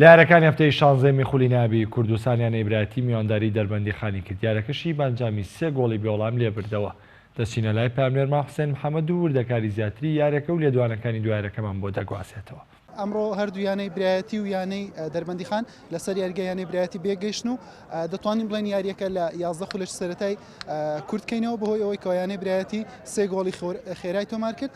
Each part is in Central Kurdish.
لە یارەکانی هەفتەی شانزەمی خولی نابی کوردستان یانەی برایتی میوانداری دەربەندیخانی کرد، یارەکەشی بەئەنجامی سێ گۆڵی بێوەڵام لێبردەوە. دەچینە لای پەیامنێرمان حوسێن محەمەد و وردەکاری زیاتری یارەکە و لێدوانەکانی دوای یارەکەمان بۆ دەگوازێتەوە. ئەمڕۆ هەردوو یانەی برایەتی و یانەی دەربەندیخان لەسەر یاریگای یانەی برایەتی بێگەیشتن و دەتوانین بڵێن یاریەکە لە یازدە خولەکی سەرەتای کورتکەینەوە بەهۆی ئەوەی کەوە یانەی برایەتی سێ گۆڵی خێرای تۆمارکرد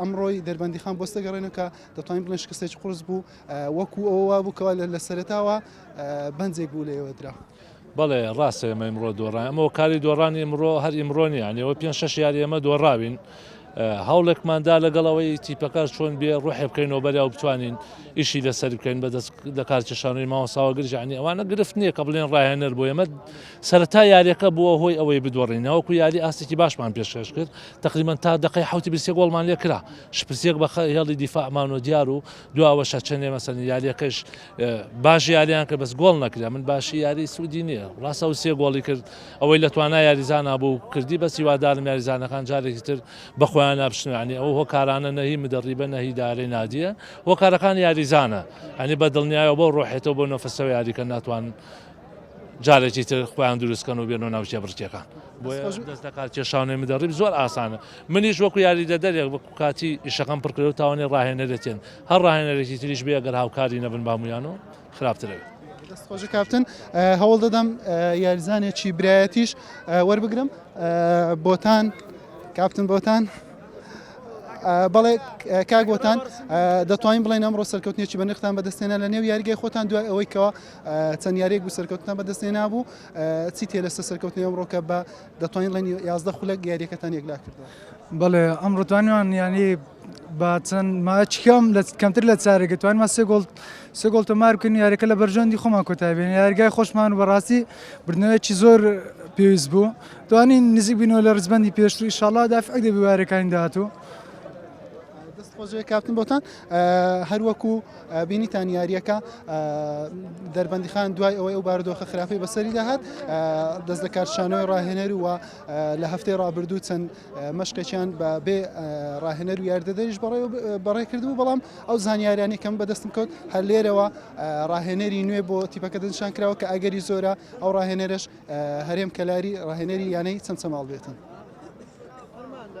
ئەمڕۆی دەربەندیخان بۆ سەگەڕێنە کە دەتوانین بڵێن شکستێکی قرس بوو وەکو ئەوە وابوو کەوا لە سەرتاوە بەنجێک بوو لەوە درا. بەڵێ ڕاستە ئێمە ئمڕۆ دۆڕان ئەمە کاری دۆڕانی ئمڕۆ هەر ئیمڕۆنی ئەنیەوە پێ شش یاری ئێمە دۆڕاوین هەوڵێکماندا لەگەڵ ئەوەی تیپەکە چۆن بێ ڕۆحێ بکەینەوە بەریا و بتوانین ئیشی لەسەر بکەین بەدەست لە کارکێشانەوەی ماوەساوە گرژانی ئەوانە گرفت نییە کە بڵێن ڕاهێنەر بۆ ئێمە سەرتا یاریەکە بووە هۆی ئەوەی بدۆڕینەوەکو یاری ئاستێکی باشمان پێشکەش کرد تەقریبەن تا دەقەی حەوتی بری سێ گۆڵمان لێ کرا شپرسیەک بە هێڵی دیفاعمان و دیار و دواوەشە چەندێ مەسەن یاریەکەش باش یاریان کە بەس گۆڵ نەکرێ من باشی یاری سوودی نییە ڕاستە و سێ گۆڵی کرد ئەوەی لە توانای یاریزانە بوو کردی بەس هیوادارم یاریزانەکان جارێکی تر بە خۆیان نابشتنانی ئەو هۆکارانە نەهی مدەڕیبە نەهی دارەی نادیە هۆکارەکان یاریزانە ئەنی بە دڵنیایەوە بۆ ڕۆحێتەوە بۆ نەفەسەوە یاریکە ناتوان جارێکی تر خۆیان دروستکەن و بێنەوە ناو کێبڕکێکان بۆیە دەست دەکات کێشاونەی مدەڕیب زۆر ئاسانە منیش وەکو یاریدەدەرێک وەکو کاتی ئیشەکەم پڕکرێ و تاوانێ ڕاهێنەرێتێن هەر ڕاهێنەرێکی تریش بێ گەر هاوکاری نەبن بامویان و خراپترە خۆش کاپتن هەوڵ دەدەم یاریزانێکی برایەتیش وەربگرم بۆتان کاپتن بۆتان. بەڵێ کاگۆتان دەتوانین بڵێن ئەمڕۆ سەرکەوتنێکی بەنرختان بەدەستێنە لە نێو یاریگەی خۆتان دوای ئەوەی کەەوە چەند یاریەک بوو سەرکەوتنە بەدەست هێنابوو چی تێ لەسەر سەرکەوتنی ئەمڕۆکە بە دەتوانین ڵێنی یازدە خولەک یاریەکەتان یەکلا کردو بەڵێ ئەم ڕوتوانیان یانی با چەند ماچکەم لە کەمتر لە چارێکە توانمە سێ گۆڵ سێ گۆڵ تۆمار بکەین یاریەکە لە بەرژەندی خۆمان کۆتابێن یارگای خۆشمان و بەڕاستی بردنەوەیکی زۆر پێویست بوو توانین نزیک بینەوە لە ڕزبندی پێشتری شڵا دافع دەبیوارەکانی داهاتوو دەست خۆشێ کاپتن بۆتان هەروەکو بینیتان یارییەکە دەربەندیخان دوای ئەوەی ئەو باردۆخە خراپی بەسەری داهات دەست لە کارشانەوەی ڕاهێنەر وە لە هەفتەی ڕابردوو چەند مەشقێکیان بە بێ ڕاهێنەر و یاردەدەریش بەڕێ بەڕێ کردبوو بەڵام ئەو زانیاریانی کەم بەدەستم کەوت هەر لێرەوە ڕاهێنەری نوێ بۆ تیپەکە دەنشان کراوە کە ئەگەری زۆرە ئەو ڕاهێنەرش هەرێم کەلاری ڕاهێنەری یانەی چەمچەماڵ بێتن. Armando.